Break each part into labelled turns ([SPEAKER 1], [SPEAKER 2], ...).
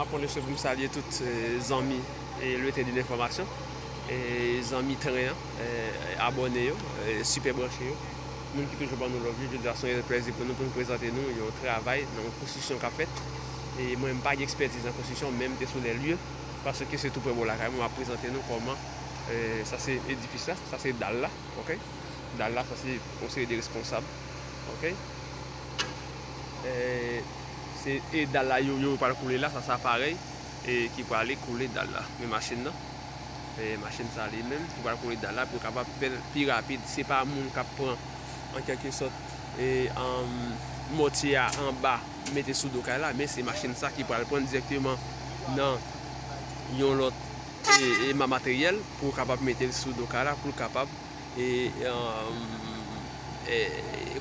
[SPEAKER 1] Map pwonese poum salye tout zanmi Lyote de Lenfòmasyon e zanmi tren an, abòne yo, sipè branche yo, moun ki toujou bannou love yo, jodi a son reyèl plèzi pou nou poun prezante nou yon travay nan yon konstriksyon kap fèt e mwen m pa gen ekspètiz nan konstriksyon men m te sou lè lye paske se tou prè bò lakay mwen map prezante nou kòman sa se edifis la, sa se dal la, ok dal la sa se yon seri de responsab, ok. Se e dal la yo yo pral koule la sa sa parèy e ki prale koule dal la men machin nan e machin sa li menm ki pral koule dal la pou yo kapab fè l pi rapid se pa moun k ap pran an kèlke sòt e mòtye a anba mete sou do kay la men se machin sa ki pral pran l dirèkteman nan yon lòt e ma materyèl pou yo kapab mete l sou do kay la pou l kapab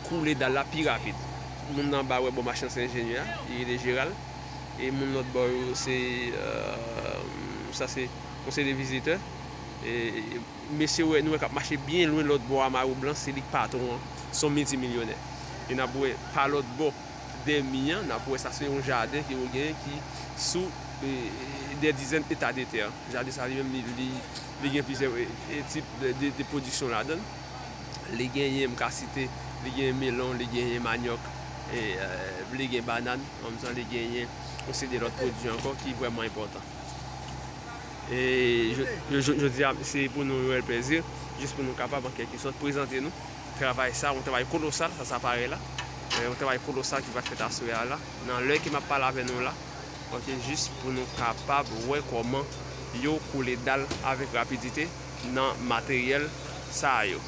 [SPEAKER 1] koule dal la pi rapid. Moun nan anba wè bon machin se enjenyè a, li rele Jeral. E moun lòt bò yo se, sa se konseye de vizitè. E mesye ou wè, nou wè k ap mache byen lwen lòt bò a mawou blan, se li k patwon an, se yon milti milyonè. E n ap wè pa lòt bò de mi an, n ap wè sa se yon jaden ke yo genyen ki sou de dizèn eta de tè. Jaden sa li menm li Li gen plizyè tip de pwodiksyon ladan l. Li genyen, m ka site, li genyen melon, li genyen manyòk, li gen banàn, an menm tan li genyen yon seri de lòt pwodui ankò ki vrèman enpòtan. E jodi a, se pou nou yon rèl plezi, jis pou nou kapab an kèlke sòt prezante nou travay sa, yon travay kolosal, sa sa parèy la, yon travay kolosal ki pral fèt aswè a la, nan lè ke m ap pale avè nou la. ok jis pou nou kapab wè kòman yo koule dal avèk rapidite nan materyèl sa yo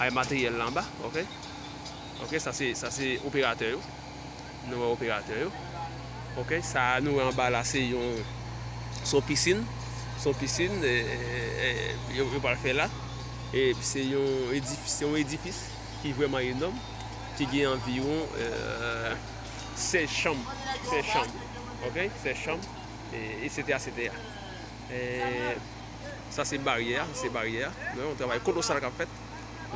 [SPEAKER 1] ay materyèl la anba ok ok sa se sa se operatè yo nou wè operatè yo ok sa nou wè anba la se yon se yon pisin se yon pisin yo yo pral fè la e se yon edifis se yon edifis ki vrèman enòm ki gen anviwon. sèz chanm, sèz chanm, ok, sèz chanm, esetèra, esetèra. Sa se baryè a, sa se baryè a. Mwen wè yon travay kolosal k ap fèt.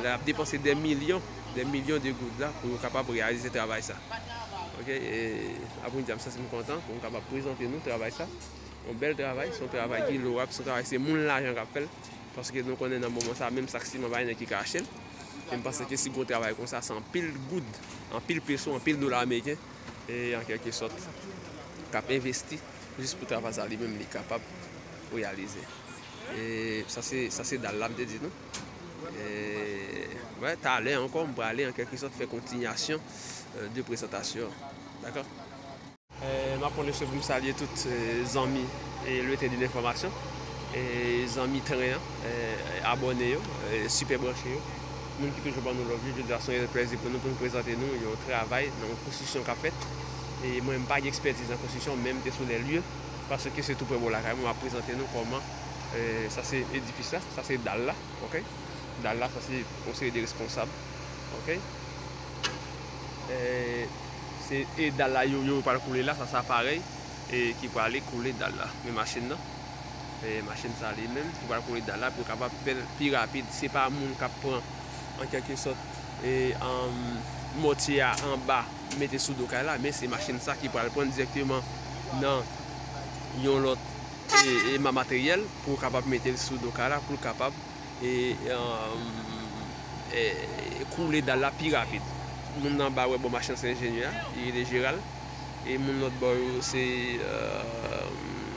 [SPEAKER 1] Lè y ap depanse dè milyon, dè milyon de goud la pou yo kapab reyalize travay sa. Ok, e apre di a m santi m kontan pou m kapab prezante nou travay sa. Yon bèl travay, se yon travay ki lorab, se yon travay se moun lajan k ap fè l. Paske nou konnen nan moman sa a menm sak siman pa gen nèg ki ka achte l. e m panse ke si gwo travay konsa se anpil goud, anpil peso, anpil dola ameriken e an kèlke sòt k ap envesti jis pou travay sa li menm li kapab reyalize. E sa se, sa se dal la m te di nou. E wè talè ankò m prale an kèlke sòt fè kontinyasyon de prezantasyon an. Dakò? M ap pwonese pou m salye tout zanmi Lyoetedin Enfòmasyon, zanmi tren an, abòne yo, sipè branche yo, moun ki toujou ban nou love yo. Jodi a se yon rèl plèzi pou nou pou nou prezante nou yon travay nan yon konstriksyon k ap fèt. E mwen m pa gen ekspètiz nan konstriksyon men m te sou lè lye paske se tou pre bò lakay mwen. M ap prezante nou kòman sa se edifis la, sa se dal la, ok, dal la sa se yon seri de responsab, ok. Se e dal la yo yo pral koule la sa sa parèy e ki prale koule dal la men machin nan e machin sa li menm ki pral koule dal la pou yo kapab fèl pi rapid se pa moun kap pran an kèlke sòt e anm mòtye a anba mete sou do kay la men se machin sa ki pral prann dirèkteman nan yon lòt e e ma materyèl pou yo kapab metel sou do kay la poul kapab. koule dal la pi rapid. Moun nan anba wè bon machin se enjenyè a, li rele Jeral. E moun lòt bò yo se,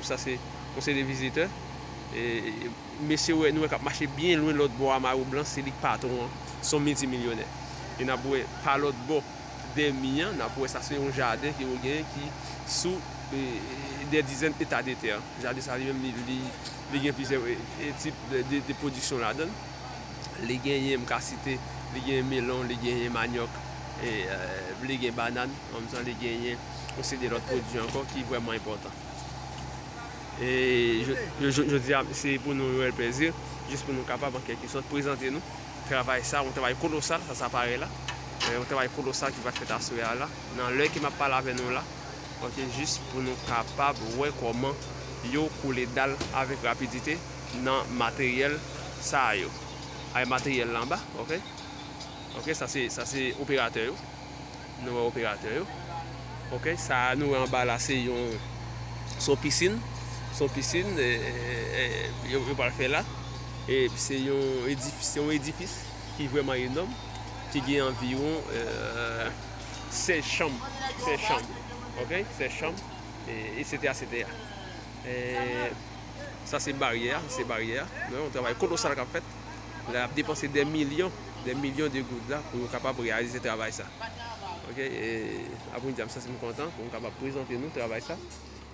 [SPEAKER 1] sa se konseye de vizitè. E mesye wè, nou wè k ap mache byen lwen lòt bò a mayo blan, se li k patwon an, s on milti milyonè. E n ap wè pa lòt bò de mi an, n ap wè sa se yon jaden ke yo genyen ki sou de dizèn eta de tè. Jaden sa li menm li. Li gen plizyè tip de pwodiksyon ladan l. Li genyen, m ka site, li genyen melon, li genyen manyòk, li gen banàn, an menm tan li genyen yon seri de lòt pwodui ankò ki vrèman enpòtan. E jodi a, se pou nou yon rèl plezi, jis pou nou kapab an kèlke sòt prezante nou travay sa, yon travay kolosal, sa sa parèy la, yon travay kolosal ki pral fèt aswè a la, nan lè ke m ap pale avè nou la. Ok jis pou nou kapab wè kòman yo koule dal avèk rapidite nan materyèl sa a yo ay materyèl la anba ok ok sa se sa se operatè yo nou wè operatè yo ok sa a nou wè anba la se yon se yon pisin se yon pisin eee yo pral fè la e se yon edifis se yon edifis ki vrèman enòm ki gen anviwon eee. sè chanm sè chanm ok sè chanm etc etc eee sa se baryè a sa se baryè a nou wè yon travay kolosal kap fèt lè ap depanse dè milyon dè milyon de goud la pou yo kapab reyalize travay sa ok eee apre yon djam sa se m kontan pou m kapab prezante nou travay sa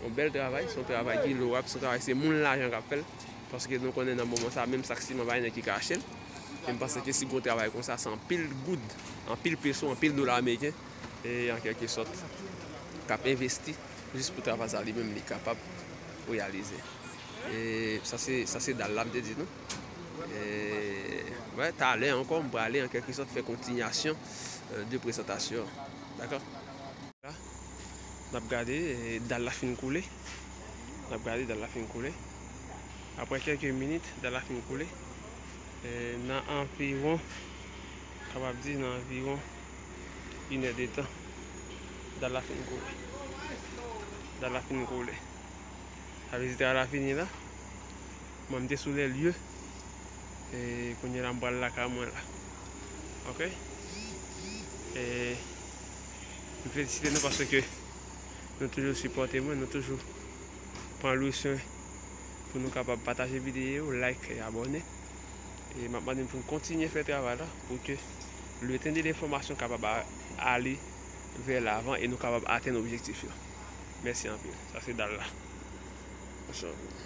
[SPEAKER 1] yon bèl travay son travay ki lorab son travay se moun lajan kap fèl paske nou konnen nan moman sa menm sak siman pa gen nèg ki ka achte l. e m panse ke si gon travay konsa se anpil goud, anpil peso, anpil dola ameriken e an kèlke sòt k ap envesti jis pou travay sa li menm li kapab reyalize. E sa se, sa se dal la m te di nou. E wè talè ankò m prale an kèlke sòt fè kontinyasyon de prezantasyon an. Dakò? La n ap gade dal la fin koule, n ap gade dal la fin koule, aprè kèlke minit dal la fin koule. Nan anviwon, kapab di nan anviwon inè de tan, dal la fin koule. Dal la fin koule. A vezi dal la fini la. Mwen mte sou lè lye. E kounye la mbal la ka mwen la. Ok. E m felisite nou paske nou toujou sipote mwen, nou toujou pran lwisyon. pou nou kapab pataje videyo, like e abòne. E map mande nou pou nou kontinye fè travay la pou ke luten de lenfòmasyon kapab ale vè lavan e nou kapab atenn objektif yo. Mèsi anpil. Sa se dal la. Mèsi anpil.